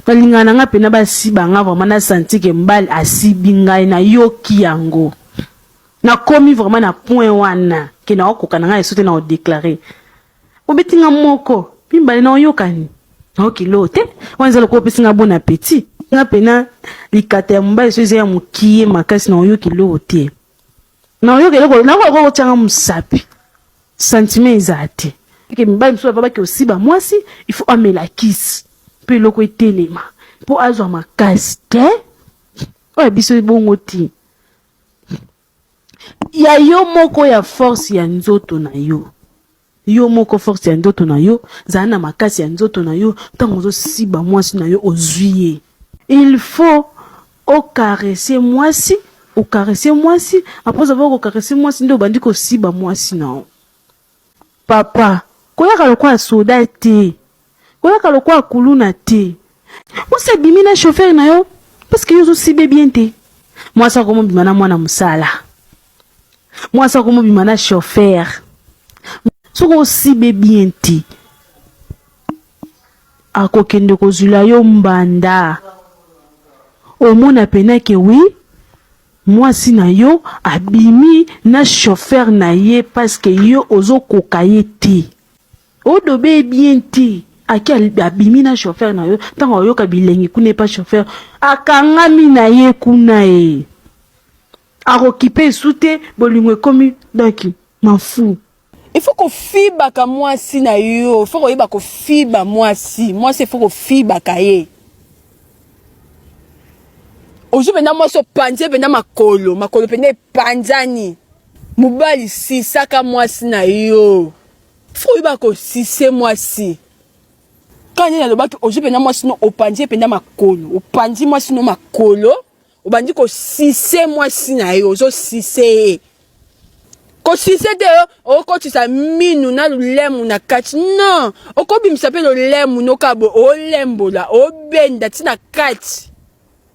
Balingaka na nga pena basiba nga vraiment na senti ke mbali asibi ngai na yoki yango nakomi vraiment na point wana ke na okoka na nga esote na odeklare obeti nga moko mimbale na oyokani na okilo te wana eza lokola opesi nga bon appetit nga pena likata ya mobali so eza ya mokie makasi na oyoki loo te Na oyoka eloko na ko ko changa musapi. Sentiment eza te. Ke mibali mususu ba baki osiba mwasi il faut amela kisi pe eloko etelema po azwa makasi te oyo ya biso ebongo te ya yo moko ya force ya nzoto na yo. Yo moko force ya nzoto na yo, zala na makasi ya nzoto na yo, ntango ozosiba mwasi na yo ozwi ye. Il faut o caresser mwasi, o caresser mwasi, après avoir ko caresser mwasi nde obandi kosiba mwasi na yo. Papa, koyaka lokola soda te. Koyaka lokola kuluna te. Mwasi abimi na chauffeur na yo parce que yo ozo sibe bien te. Mwasi akomobima na mwana mosala. Mwasi akomobima na chauffeur. Soki osibe bien te. Akokende kozula yo mbanda. Omona pena ke oui mwasi na yo abimi na chauffeur na ye parce que yo ozo koka ye te. Odobe ye bien te ake abimi na chauffeur na yo ntango ayoka bilengi kuna epa chauffeur akangami na ye kuna e akokipe esu te bolingo ekomi donc mafu il faut kofibaka mwasi na yo faut koyeba kofiba mwasi mwasi faut kofibaka ye ozwi mpenza mwasi opanzi ye mpenza makolo makolo mpenza epanzani mobali sisaka mwasi na yo Faut ba ko sise mwasi. Quand il alobaki ozo penda mwasi no opanzi penda makolo. Opanzi mwasi no makolo. Obandi ko sise mwasi na yo ozo sise. Ko sise de oh, okotisa minu na lulemu na kati. Non, okobimisa pe lulemu no kabo olembola, obenda tina kati.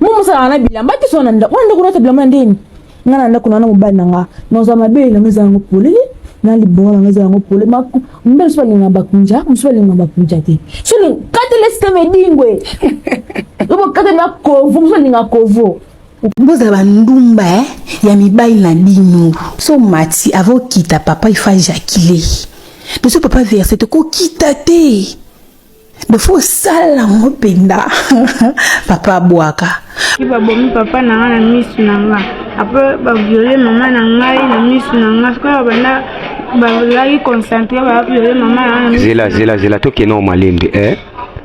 Mumu sala na bilamba te sona nda. Wana ndako na bilamba na ndeni. Nga na ndako na na mobali na nga. Na za mabe na meza yango polele. Na libongo na meza yango polele. Ma mbele swa linga bakunja, mswa linga bakunja te. Sona kate lesta medingwe. Obo kate na kovo, mswa linga kovo. Boza ba ndumba eh ya mibali na bino. So mati avo kita papa ifa ejaculer. Biso papa verse te ko kita te. bafo osala yango mpenza papa abwaka ki babomi papa na nga na misu na nga apres baviole mama na ngai na misu na nga sikoyo babanda bazalaki concentre baviole mama na nga zela zela zela tokende o malembe eh?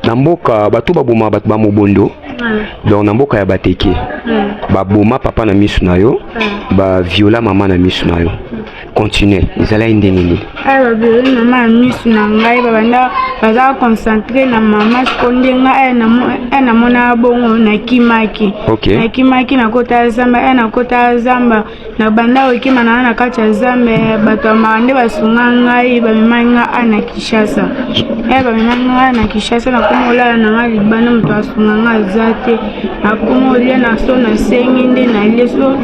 na mboka bato baboma bato ba mobondo donc na mboka ya bateke baboma papa na misu na yo baviola mama na misu na yo continue ezalaki ndenge nini aya babeleli mama ya misu na ngai babanda baza concentre na mama siko nde ngai aya namonaka bongo nakimaki nakimaki nakota zamba aya nakota zamba nabanda kokima naa na kati ya zamba eh, bato ya maka nde basunga ngai bamemaki ngai aya na kinshasa aya eh, bamemaki ngai aya na kinshasa nakomi kolala na ngai libanda moto asunga ngai aza te nakoma olia na so nasengi nde nalie so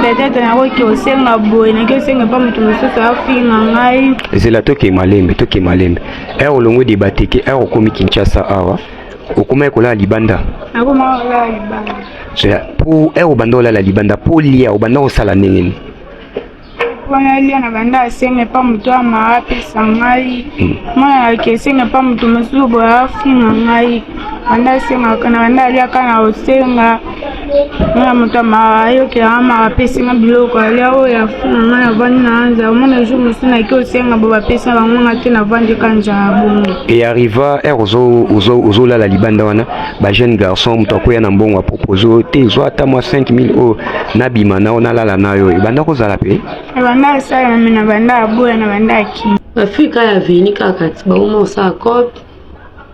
peut-être nakoki osenga boye naki osenga epa moto mosusu afinga ngai zela toke malembe toke malembe ere olongwe deba teke ere okomi kinshasa awa okomaki kolala libanda nakomaki kolala libanda po ere obanda olala libanda po lia obanda kosala ndenge nini wana elia na banda asenga epa moto ya maa apesa ngai hmm. mwana yaki esenga epa moto mosusu boye afinga ngai banda asengaka na banda aliaka na osenga mwana moto ya maa ayokelaka maa apesi nga biloko alia oyo afinga ngai navandi na anza omona jour mosusu naki osenga bo bapesa bango nga te navandi ka njala bongo e arriva ere ozolala libanda wana ba jeune garçon moto akoya na mbongo apropose te zwa ata mwa 5000 oyo nabima nao nalala nayo ebanda kozala mpe ebanda asala me na banda aboya na banda akimi bafui kaka ya veni kaka ti bauma osala cope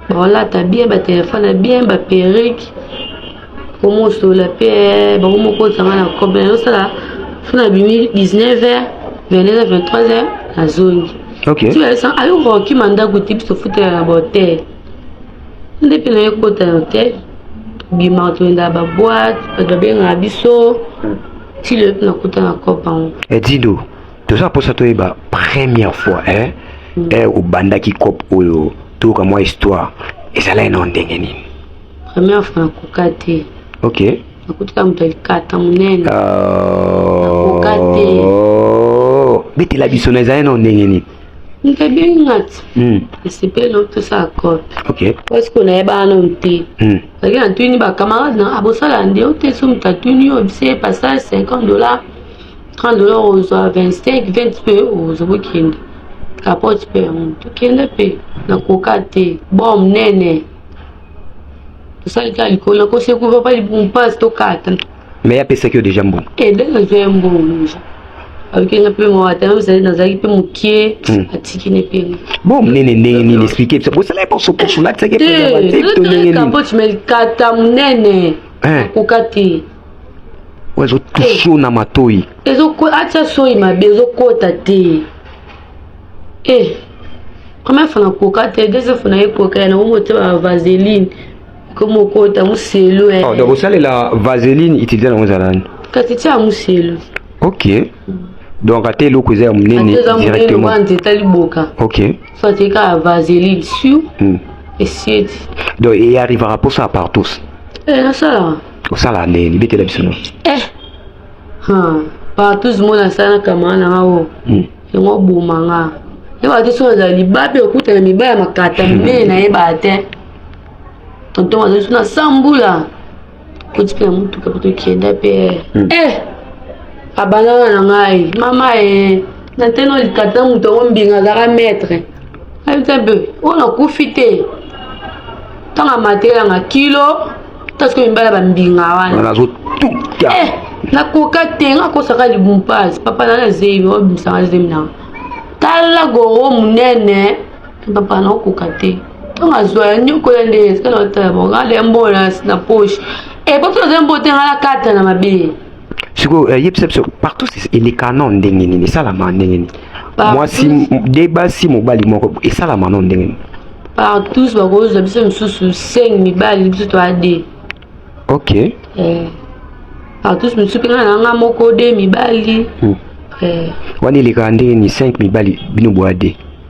baolata bien batelefone bien baperike komosola mpe eh, bango moko ozanga na cope nazosala fo na bimi 19 heures 22 heures 23 heures nazongi ti bayosanga ayokokima ndako te biso futela na bahotel ndepe na ye ekota yo te tobimaka toyendaka baboite bato babengaka biso hmm. ti lelo mpe nakota na cope yango edindo eh, toza mposa toyeba première fois e hmm. eh, obandaki cope oyo toyoka mwa histoire ezalaki nao ndenge nini première fois nakoka te ok nakutika moto ya likata monene ah. nakoka te betela biso na ezalaki nao ndenge nini Ntabini ngati hmm. esepeli otosala cope parce que nayebaka nanu te azalaki na tuni bacamarade na abosala nde ote so moto atuni yo bise passage 50 dollar 30 dollar ozwa 25 20 mpe ozwa bokende kapote mpe yango tokende mpe nakoka te bo monene tosali kaka likolo nakosekuru papa libumu mpasi tokata mais apesaki yo deja mbongo e eh, nde nazwa ye mbongo deja ayoki nga mpe mawata yango ezali nazalaki mpe mokie hmm. atiki ne mpe bo monene ndenge nini explike biso bosala ye poso poso latisaki epokapote me likata monene eh. akoka te ezotuso na matoi atia soi mabe ezokota te e eh. première fois nakoka te deuxième fois nayekoka ya nango motema ya vaseline komo okota muselu eh. oh, donc osalela vaseline utilise nango ezala nani kati tia muselu ok donc ata eloko eza ya monene directement etali boka ok so atika vaseline sur hmm. esieti donc eyarrivaka mposa par tous eh, nasalaka osala ndeni betela biso no eh partout mona asala kamara na nga o hmm. yango oboma nga yebaka te soki azala libabe okutana mibaya makata minene nayebaka te tonton azali na sambula koti mpe na motuka po tokenda mpe hmm. eh abandana na ngai mama e na nteno likata na moto yango mbinga azalaka maître ayebisa mpe oyo nakufi te ntango amatelanga kilo tasiko mibala bambinga wana eh, nakoka te nga akosaka libumpasi papa nana zebi obimisanga zemi nanga tala goro monene papa naokoka te ntango azwa ya nyokola nde esika na batala bango ale ya mbola na poche e bato naza mbo te nga nakata na mabe sikoyo eh, yebisa biso partout eleka no ndenge nini esalama ndenge nini mwasi de basi mobali moko esalama no ndenge nini partous bakozwa biso misusu 5 mibali biso to ade ok eh. partous misusu mpe ngai nanga moko de mibali hmm. eh. wana elekaka ndenge ni 5 mibali bino boade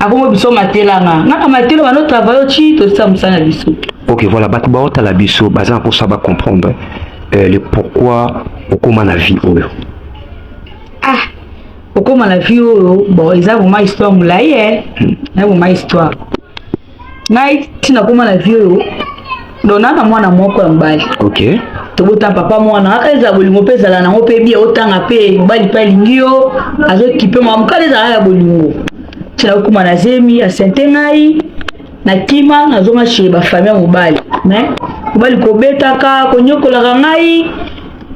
akomo biso matelanga nga na matelo bano travaille ci tosisa mosala na biso ok voilà bato baotala biso baza na mposa bacomprendre euh, le pourquoi okóma na vie oyo ah okóma na vie oyo bon eza vraimen histoire molai e eh. hmm. eza vraimen histoire ngai ntina koma na vie oyo dona na mwana moko ya mobali okay. tobota papa mwana kaka ezala bolingo mpe ezala nango mpe bie otanga mpe mobali mpe alingi yo azokipe mwa mokala ezala ya bolingo ntina okoma na zemi asente ngai na kima nazonga chez bafamille ya mobali me mobali kobetaka konyokolaka ngai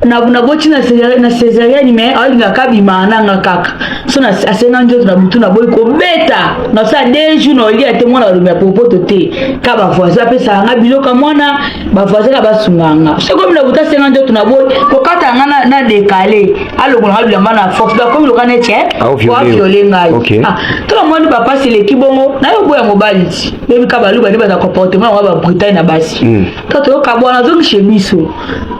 na na boti na na cesarienne mais alinga kabima na nga kaka so na asenga njoto na butu na boyi kobeta na sa deux jours na olia te mwana alomi ya popoto te ka ba voisin apesa nga biloka mwana ba voisin ka basunga nga so komi na butu asenga njoto na boyi kokata nga na, na décalé alongola nga bilamba na force ba komi lokana ete wa viole ngai okay. ah to ba mwana ba pasi leki bongo na yo boya mobali ti bebi ka baluba ni ba comportement wa ba brutal na basi mm. to toyoka bwana azongi chez biso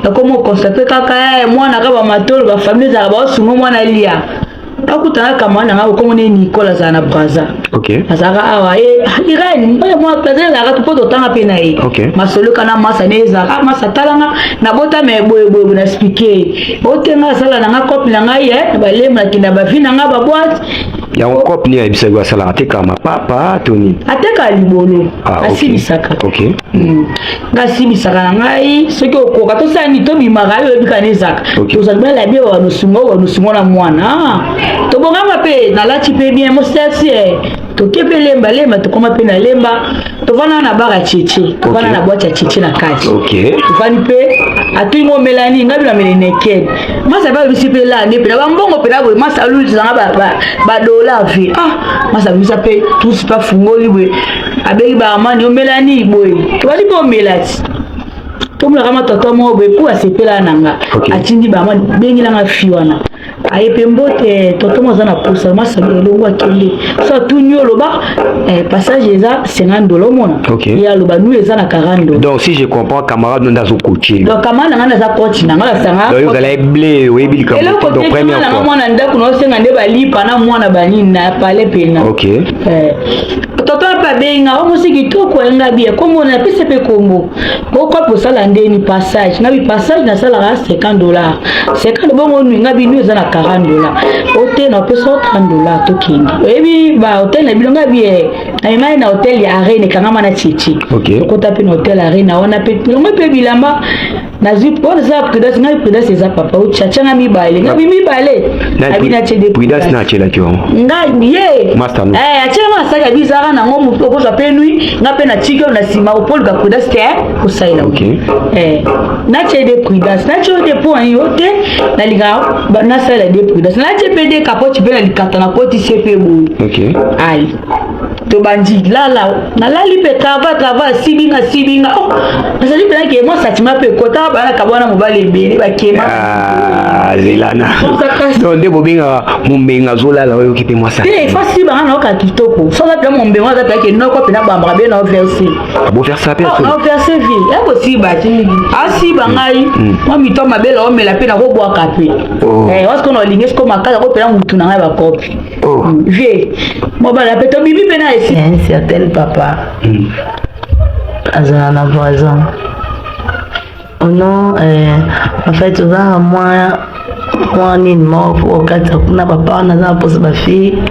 nakoma okonstate kaka eh, mwana kaka bamatolo bafamile ezalaka baosungo mwana lia akutana kama na ngai okomona ye nicole azala na braza azalaka awa eh, ah, irene oyo mwa plaza ezalaka tu mpo totanga mpe na ye masoloka na masa ne ezalaka ah, masa talanga nabota me boyeboyebo na explike ye otenga asala na ngai cope na ngai eh, na balemba nakenda bavi na ngai baboite yango cope nini ayebisaki asalaka atekaka mapapa to nini atekaka libolo asilisaka Hmm. nga simbisaka na ngai soki okoka tosala nini tobimaka yo oyebika na ezaka tozali bala bie wanosunga oyo wanosunga na mwana tobongama mpe nalati mpe bien mosasi eh. toke mpe lemba lemba tokoma mpe na lemba tovanda na baka cheche tovanda na bwati ya cheche na kati tovandi mpe atuni ngo omela nini ngai binamela enekele masa mpe alobisi mpe lande mpe na bambongo mpe naboye masa alulisa nanga badollar mpe ah masa alobisa mpe tusi mpe afungoli boye abengi baamani omelani boye tobandi mpe omelati tomonaka matata moko boye mpo asepela na nga atindi baamani bengela nga fi wana aye mpe mbote toto moza na posa masanga elongo akende so atuni oloba eh, passage eza 50 dola omona ye aloba nu eza na 40 dola donc si je comprends camarade no nde azokotie donc camarade na ngai naza koti na ngai nasanga ozala eble oyebi likambo donc première fois mwana ndako na osenga nde balipa na mwana banini na pale pena ok eh. Tata mpe abengi nga omosi kitoko ayenga bia kombo na apesa mpe kombo okopi osala ndeni passage nga bipassage nasalaka 50 dollar 50 bongo nui nga binu eza na 40 dollar ote na opesa 30 dollar tokende oyebi ba hotel na bino nga bie amemai na hotel ya arena ekangama na chichi okota mpe na hotel arena wana mpe longo mpe bilamba nazwi oza prudence ngai prudence eza papa otyatianga mibale ngabi mibale abi natye de prudence natyelaki yango ngai ye eh, atyelanga asaki abi ezalaka nango motu okozwa mpe nui ngai mpe natiki oyo na nsima opoluka prudence te eh, kosalela eh, natye de prudence natye oyo de mpo yo te nalingaka nasalela de prudence natye mpe de kapoti mpe na likata na kotisi mpe boye ai tobandi lala nalali mpe kava kava asibinga asibinga oh, nazali mpe nake mwa satima mpe kota banaka bwana mobali ebele bakema ah, lelana to nde bobengaka mombenga azolala oyoki mpe mwasa te fasi banga nayoka kitoko soza mpe mombenga aza mpe ake noko mpe nabambaka be na overse boverse mpe ah, na overse vi yakosiba asiba ngai mm. mwa mito mabele omela mpe nakobwaka mpe wasikona olingi siko makasi akopela motu na ngai bakopi Oh. vie mobala mpe tobimi mpe na esi un certain papa mm. azala na voisin ono euh, en fait oza mwa mwa nini moko mpo okatisa kuna bapaa naza na mposa bafille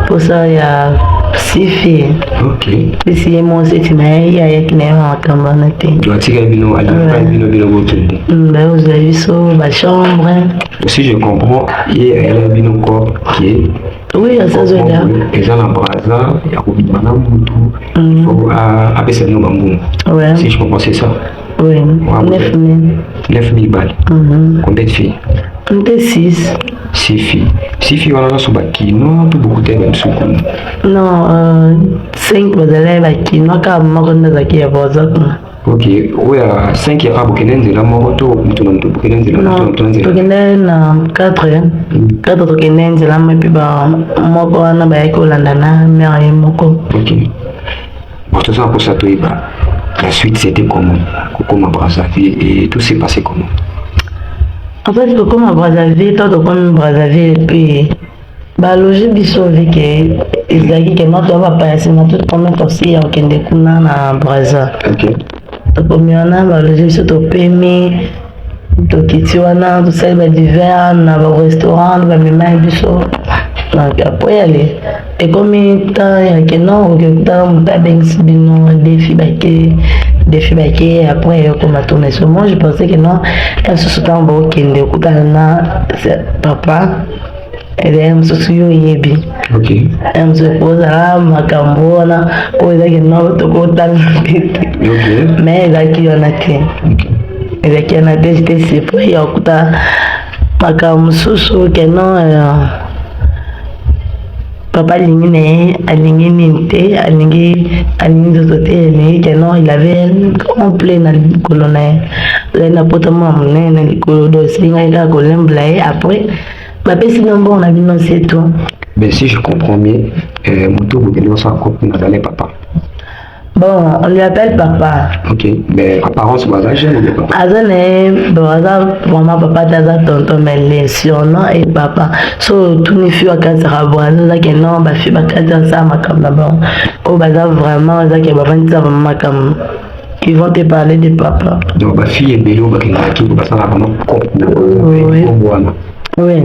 mposa ya sifi bisi ye mwasi ti na ye ye ayaki na ye na makambo wana te baozwa biso bachambre si je comprends ye ayela bino ko ke oui asazoda eza na braza ya kobima na mutu mm. fo apesa bino bambuma si je comprends c'est ça oui 9 mille 9 mille balles mm-hmm. combien de filles nde 6 6 filles 6 filles wana nyonso bakinois to bokutaki na biso kuna non 5 euh, bazalaki bakinois kaka moko nde azalaki ya braza kuna Ok, oyo ya 5 ya bokende nzela moko to moto na moto bokende nzela moto na moto na nzela tokende na 4 4 tokende nzela mo epe ba moko wana bayaki kolanda na mare ye moko ok bon toza na mposa toyeba la suite c'était comment kokoma brazzaville et tout s'est passé comment en fait kokoma brazzaville to tokomi brazzaville epuis Baloji biso vi ke ezalaki ke mato ya bapaya sima tout promets tosi ya kokende kuna na Brazza. Okay. Tokomi wana baloji biso topemi tokiti wana tosali ba divers na ba restaurant bamemaki biso apres yale ekomi temps ya keno okekuta moto abengisi bino defi bake defi bake apres ekoma tourneso moi je pensais que non lisusu ntango baokende okutana na papa ebele mosusu yo oyebi ozala makambo wana oyo ezalaki nao tokotanga te te me ezalaki wana te ezalaki wana te jete surpris ya kokuta makambo mosusu keno euh, Papa alingi na ye alingi nini te alingi alingi nzoto te alingi te non il avait complet na likolo na ye azali na poto mwa monene na likolo do esilingaki kaka kolembela ye après bapesi bino mbongo na bino setu mais si je comprends bien euh, moto bokende osala kopi na bale papa Bon, on lui appelle papa. Ok, mais apparence baza jeune mais papa. Aza na ye, bon, aza vraiment papa te aza tonton mais le surnom est papa. So tuni fi bakanisaka bon aza ozake non bafi bakanisa sa makambo na bango oyo baza vraiment ozake bafandisa vraiment makambo ils vont te parler de papa. Donc bafi ebele oyo bakendaka kiko basala vraiment cope na Oui. bango wana. Oui.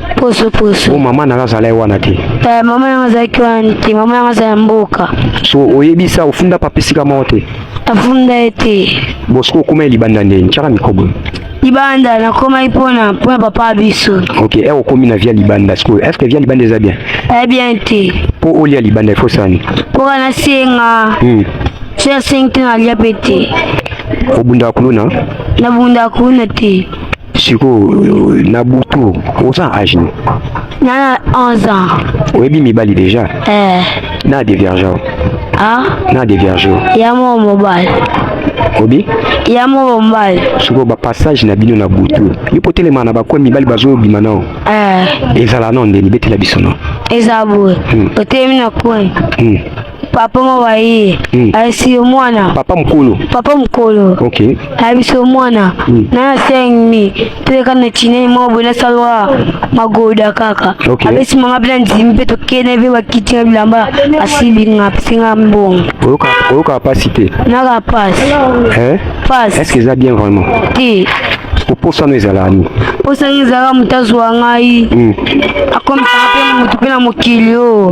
poso poso. Oh, mama nanga azala ye wana te. Eh, mama yango azalaki wana te, mama yango azala mboka. So oyebisa ofunda papa esika moko te. Afunda ye te. Bon soki okoma ye libanda nde ntiaka mikobo. libanda nakomaki mpona mpona papa biso ok e okomi na via libanda sikoyo est ce que via libanda eza bien e bien te mpo olia libanda ifo sani mpo kana senga hmm. soki asengi te nalia mpe te obundaka kuluna nabundaka kuluna te sikoyo na butu oza age nini na 11 ans oyebi mibali déjà eh. na diverge ah? na diverge ya mo mobali obi ya mo mobali sikoyo bapassage na bino na butu yo mpo telema na bakoya mibali bazobima nao eh. ezala nao ndeni betela biso nao eza boye hmm. otelemi na coin hmm. papa mawaye hmm. ayesi yo mwana papa mokolo papa mokolo okay. ayebisi yo mwana hmm. na sengmi toleka na chinei moko boye nasalwa magoda kaka okay. abesi mama mpe na ndimi mpe tokende mpe bakiti na bilamba asilinga apesinga mbongo oyokaka mpasi te naka mpasi eh? mpasi est ce que eza bien vraiment te oposana ezalaka nini posana ezalaka moto azwa ngai hmm. akomisaka mpe moto mpe na mokili oyo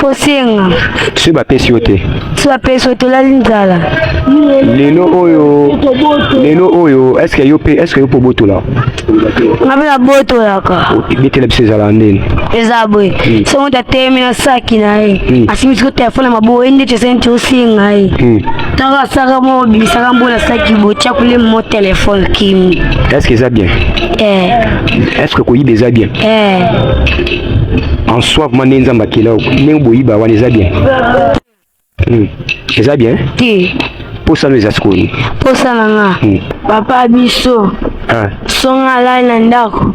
kosenga soki bapesi yo te soki bapesi yo te olali nzala lelo oyo lelo oyo eske yo mpe eske yo mpe obotola nga mpe nabotolaka bitela biso ezalaka ndeni eza boye hmm. so moto atelemi na saki na ye hmm. asimbi siko telefone ya maboko ye ndeti esenti osenga ye hmm. ntango asaka mo obimisaka mbo na saki botya kulemi mo telefone kimi eske eza bien eh. eske koyiba eza bien eh. en soi vraiment nde nzambe akela yo ndenge boyiba wana eza bien hmm. eza bien te mposa no eza sikoyo nini mposa na nga hmm. papa biso ah. songa alai na ndako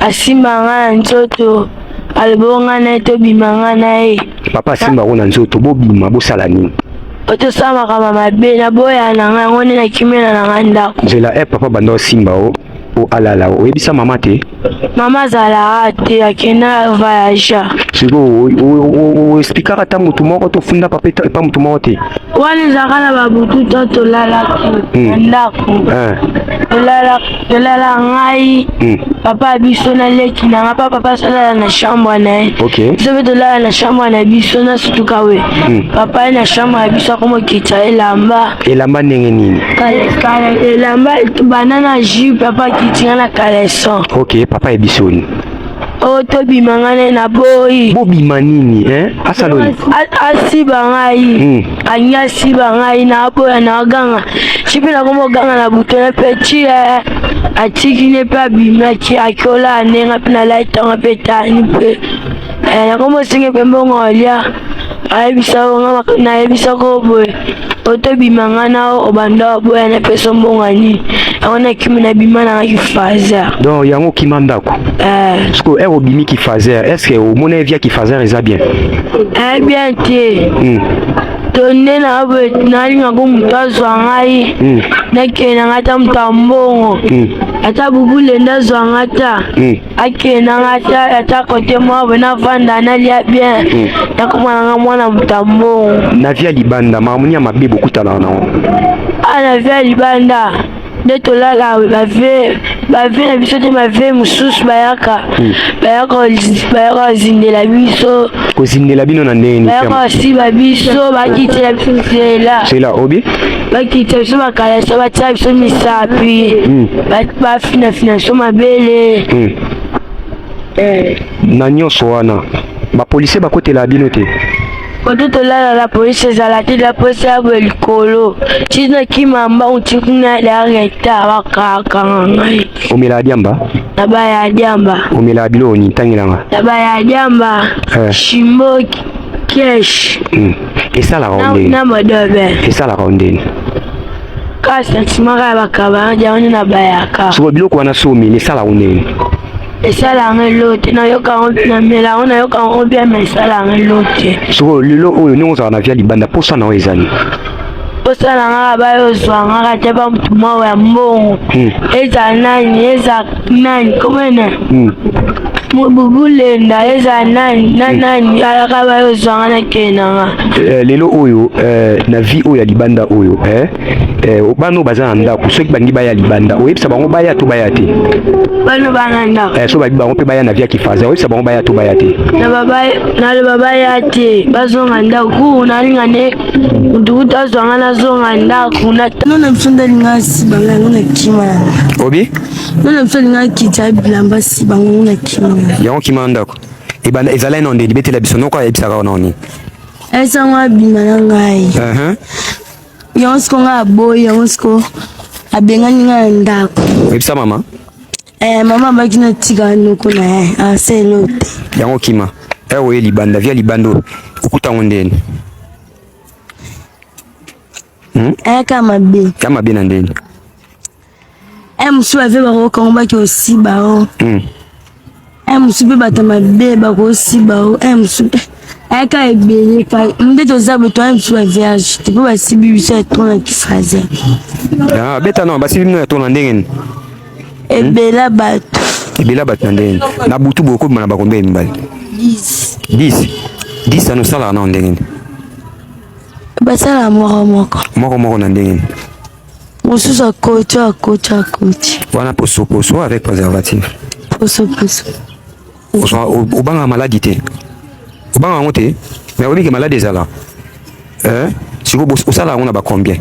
asimba nga na nzoto aloboko nga na ye tobima nga na ye papa asimba yango na nzoto bobima bosala nini otosala makambo mabe naboya na nga yango nde nakimela na nga ndako nzela e papa banda osimba o Oh alala, ah oyebisa mama te? Mama azalaka te, akenda voyage. Sikoyo oexplikaka ata motu moko to ofundaka mpe epa motu moko te? Wana ezalaka na babutu to tolalaki hmm. na ndako, eh. tolala ngai hmm. papa biso na leki na ngai, pa papa asalala na chambre na ye, biso mpe tolala na chambre na biso na sutuka we hmm. papa ye na chambre ya biso akomokitisa elamba elamba ndenge nini elamba bana na jupe papa kitinga na caleson ok papa ebisoni oyo oh, tobima nga nde naboyi bobima nini eh? asaloni asiba ngai hmm. alingi asiba ngai naboya naganga ti mpe nakomi oganga na butone mpe ti eh, atiki ne mpe abimaki akiola ndenga mpe nalaitanga mpe tani mpe eh, nakomi osengi mpe mbongo olia ayebisa yo nga nayebisa ko boye otobima nga na obanda oboya na peso mbonga nini yango nakimi nabima nanga kifazer donc yango okima ndako eh. siko ere obimi kifazer est ce que omona ye via kifazer eza bien eh bien te hmm. to nde nalingako moto azwa ngai hmm. nakende ngai ata moto ya mbongo hmm. ata bubule nde azwa ngai ta akendanga ata ata kote mwa boye navanda nalia bien hmm. nakomananga mwana moto ya mbongo na via libanda makambo ya mabe bokutanaka nango a ah, na via libanda nde tolala bave bave na biso te bave mosusu bayaka hmm. bayaka kozindela biso kozindela bino na ndenge nini bayaka kosiba biso bakitela biso nzela nzela obi bakita biso bakalasa batya biso misapi hmm. bafinafina biso mabele hmm. eh. na nyonso wana bapolisie bakotela bino te koto tolala la polisi ezala te la polisi ya boye likolo ti nakima mbangu ti kuna dareta bakakanga ngai omelaka diamba na baya diamba omelaka biloko nini ntangelanga na baya diamba eh. shimboki kesh hmm. esalaka yo ndeni na madobe esalaka yo ndeni kaka sentimaka ya bakaba yango nde nabayaka soko biloko wana somi esalaka yo ndeni esala yango elo te nayoka yango namela yango nayoka yango bien ma esala yango elo te sikoyo lelo oyo ndenge ozala na via libanda mposa na yo ezali bosala ngaka bayozwa ngaka te ba mutu moko ya mbongo hmm. eza nani eza nani komene hmm. mobubulenda eza nani na hmm. nani alaka bayozwa nga na kei na nga eh, lelo oyo eh, na vie oyo ya libanda oyo eh, eh, bana oyo baza na ndako soki bangi baya libanda oyebisa bango baya to baya te bana bana ndako eh, so babi bango mpe baya na via kifaza oyebisa bango baya to baya te naloba baya te bazonga ndako kuna alinga nde Nduta zwanga na zonga ndaku na nona biso ndali nga si banga yango na kima obi nona biso linga kita bilamba si banga yango na kima yango kima ndako ebanda ezalai na ndeni betela biso noko ayebisaka ona oni esango abima na ngai uh-huh. yango siko nga aboyi yango siko abengani nga na ndako oyebisa mama Eh, mama abaki na tika noko na ye aselo te yango kima eh, oye libanda via libanda oyo okuta yango ndeni hmm? eh, ka mabe ka mabe na ndeni eh, mosusu bave bakokango baki osiba o hmm. eh, mosusu mpe bato mabe bakosiba o eh, mosusu aka ebele pa nde toza bato ya biso ya vierge te mpo basibi biso ya tona kifraser abeta no basibi bino ya tona ndenge nini ebela bato ebela bato na ndenge na butu bokobima na bakombe ya mibali 10 10 ano osalaka nao ndenge nini basalaka moko moko moko moko na ndenge nini mosusu akoti akoti akoti wana posoposo avec préservatif posoposo obangaka maladi te obangaka yango te mais oyebi ke maladi ezala eh? sikoyo osalaka yango na bacombien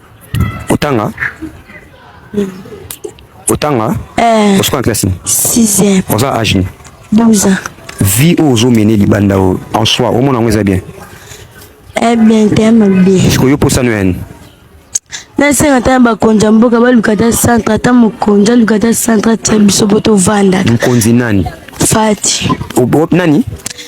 Otanga Otanga eh. Osukwa na classe 6e Oza âge ni 12 ans Vie oyo ozomene libanda oyo en soi omona yango eza bien Eh bien te ya mabe Siko yo posano ya nini nasenga ata na bakonzi ya mboka baluka ata centre ata mokonzi aluka ata centre atia biso po tovanda mokonzi nani fati o, o, nani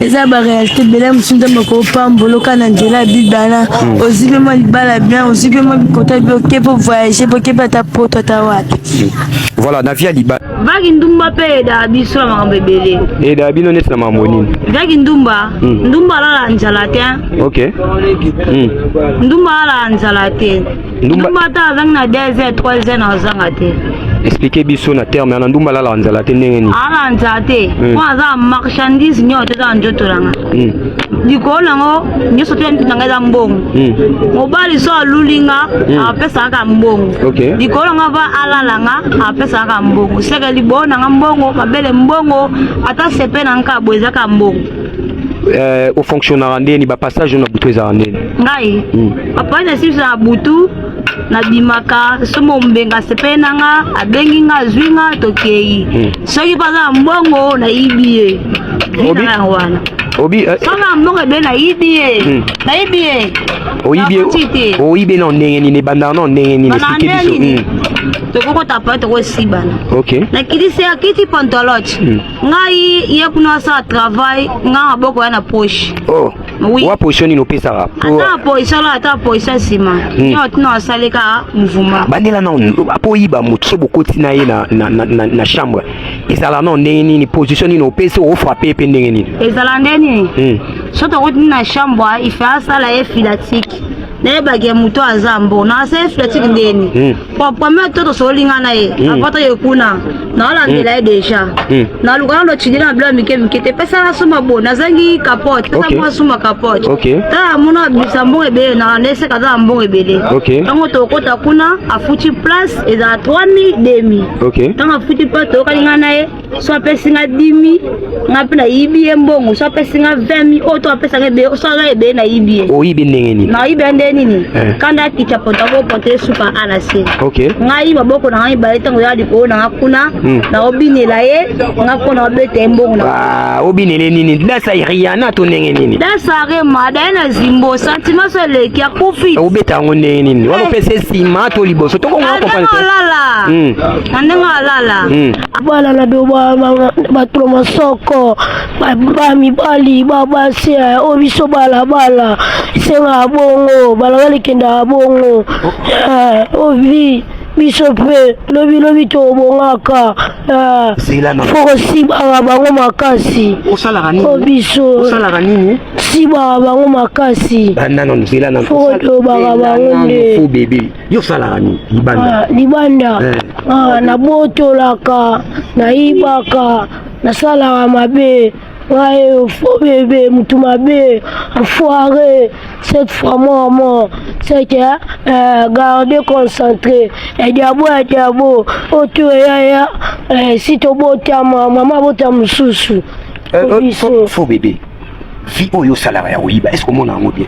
eza ba réalité bela mosusu nzambe akopambola oka na nzela ya bibana hmm. ozwi mpe mwa libala bien ozwi mpe mwa bikota bi oke mpo voyage mpo oke mpe ata poto ata wapi hmm. voilà na vie ya libala vaki ndumba mpe edaa biso na makambo ebele edaa bino neti na makambo nini vaki ndumba hmm. ndumba alala nzala te ok ndumba alala nzala te ndumba ata azangi na 2 heures 3 heures na azanga te explike biso na terme ana ndumba alalaka nzala te ndenge nini alala nzala te hmm. mpo aza marchandise nyonso te eza na nzoto nanga hmm. likolo nango nyonso te nzoto nanga eza mbongo hmm. mobali so aluli nga apesaka kaka mbongo likolo nanga va alala nga apesaka kaka mbongo seke libolo nanga mbongo mabele mbongo ata sepe na nka boye eza kaka mbongo euh, ofonctionnaka ndeni bapassage na butu ezalaka ndeni ngai hmm. papa na siso na butu nabimaka somo mbenga sepele na nga abengi nga azwi nga tokei hmm. soki mpo aza na mbongo nayibi ye yango wana obi eh, soki na mbongo ebele nayibi ye hmm. nayibi ye oyibi ye na ndenge nini ebandaka na ndenge nini esike biso tokokota pa tokosibana nakitisi akiti pantolote ngai ye kuna asala travail ngai maboko ya na poche oh. oui. wa position nini opesaka ata position la ata position nsima hmm. nio tino asali kaka mouvement bandela nao mpo oyiba moto so bokoti na ye na, na, na, na, na chambre ezala nao ndenge nini position nini opesi ofrape mpe ndenge nini ezala ndenge nini hmm. so tokoti na chambre ife asala ye filatike nayebaki ye moto aza mbo na se fletiki ndeni hmm. pame to tosoli nga na ye hmm. apata ye kuna naolandela ye hmm. deja naluka na locindela na bilo ya mike mike te pesa na suma bo nazangi capote pesa mwa suma capote tala mona bisa mbongo ebele na naeseka tala mbongo ebele ntango tokota kuna afuti place ezala 3000 demi ntango afuti place toyokani nga na ye so apesi nga dimi nga mpe nayibi ye mbongo so apesi nga 20 mi oyo to apesaka ebele so aga ebele nayibi ye oyibi ndenge nini nayibi ya ndenge nini eh. kanda akita pota kopota ye suka a na se ngai maboko na ngai mibale ntango ya likolo na nga kuna hmm. naobinela ye nga mpo naobeta ye mbongo na ah, obinele nini dasa riana to ndenge nini dasa rema daye na zimbo sentiment so eleki akufi obeta yango ndenge nini wana eh. opesa nsima to liboso tokonga ah, na ndenge alala hmm. na ndenge alala hmm. bana na biyo batula masoko bamibali babasi eh, oyo biso balabala esengaka bongo balabala ekendaka bongo eh, ovi biso mpe lobilobi tobongaka eh, fokosibaka bango makasi o biso sibaka bango makasi fokolobaka bango nde yo osalaka nini libanda ah, libanda eh. ah, nabotolaka nayibaka nasalaka mabe ngai fo bebe motu mabe enfoire cette fois mama c'est que euh, garde concentré ediabo ediabo otu eyaya eh, si tobotama mama abota mosusu eh, eh, fo bebe vie oyo osalaka ya koyiba est ce komona yango bien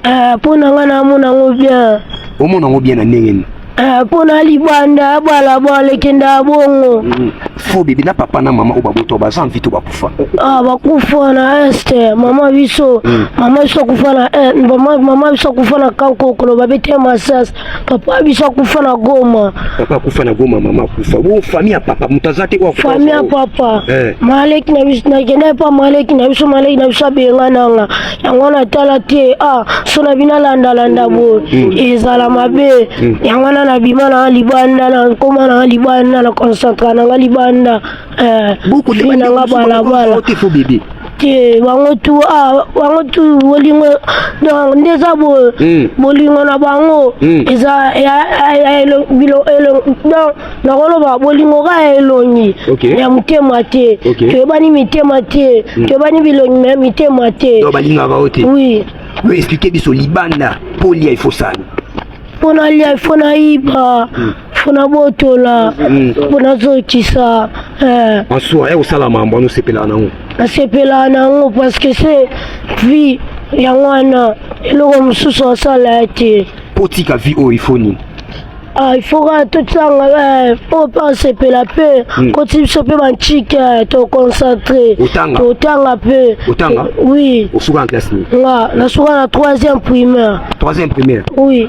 ah, mpo na ngai namona yango bien omona yango bien na ndenge nini ah, mpo na libanda abala balekenda bongo mm. fo bebe na papa na mama oyo babota baza mvi to bakufa ah, bakufa na este mama biso mm. mama biso akufa na eh, mama biso akufa na kankokolo babete masasi Papa biso akufa na Goma. Papa akufa na Goma, mama akufa. Wo famille ya papa mutaza te wa akufa. Famille ya papa. Eh. Maleki na biso na kenda pa maleki na biso maleki na biso benga nanga. Yango na tala te. Ah, so na bina landa landa bo. Mm. Ezala mabe. Mm. Yango na na bima na libanda na koma na libanda na concentrate na libanda. Eh, boko te na nga bala bala te fo bebe te bango tu ah, bango tu bolingo donc nde eza boye hmm. bolingo na bango hmm. eza donc nakoloba bolingo ka ya elongi ya motema te toyebani mitema te hmm. toyebani bilongi me mitema te balingaka o te oui oexplike biso libanda mpo lia ifosani mpo na lia ifo na yiba mpona botola mpona zokisa eh. en soi ya kosala mambo wana osepelaka nango nasepelaka nango parce que se vie yango wana eloko mosusu asala ya te mpo otika vie oyo ifo nini Ah, il faut kaka totanga eh, oyo mpe asepela mpe Mm. koti biso mpe bantike eh, toconcentre Otanga? totanga mpe Otanga? oui osuka na classe nini nga nasuka na troisième primaire troisième primaire oui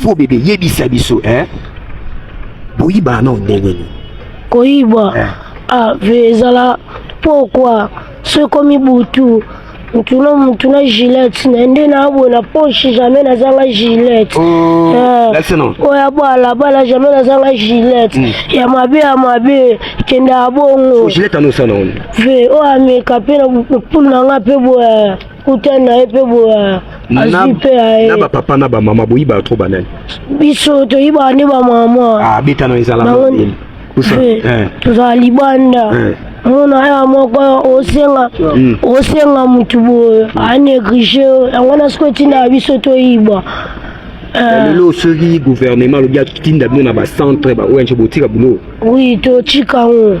Faux bébé, yebisa biso, hein? Boyiba non ndenge nini? Koyiba. Eh. Ah, vezala pourquoi? Soki komi butu mutu na mutu na gilette na nde naabwe na poche jamais nazanga gilette oh, eh, oyo abwala bala jamais nazanga gilette hmm. ya mabe ya mabe kenda ya bongo ve oyo ameka mpe na pulu na ngai mpe boye kuta na ye mpe boya azwi mpe ya ye na bapapa na bamama boyibaka tro banani biso toyibaka nde bamama ah, abetana ezala eh. tozala libanda eh. mona aya moko osenga hmm. osenga motu boye hmm. aneglige yango na siko etindaka biso toyiba eh. lelo soki gouvernement alobi atinda bino na bacentre baoyo botika bulo oui totika yango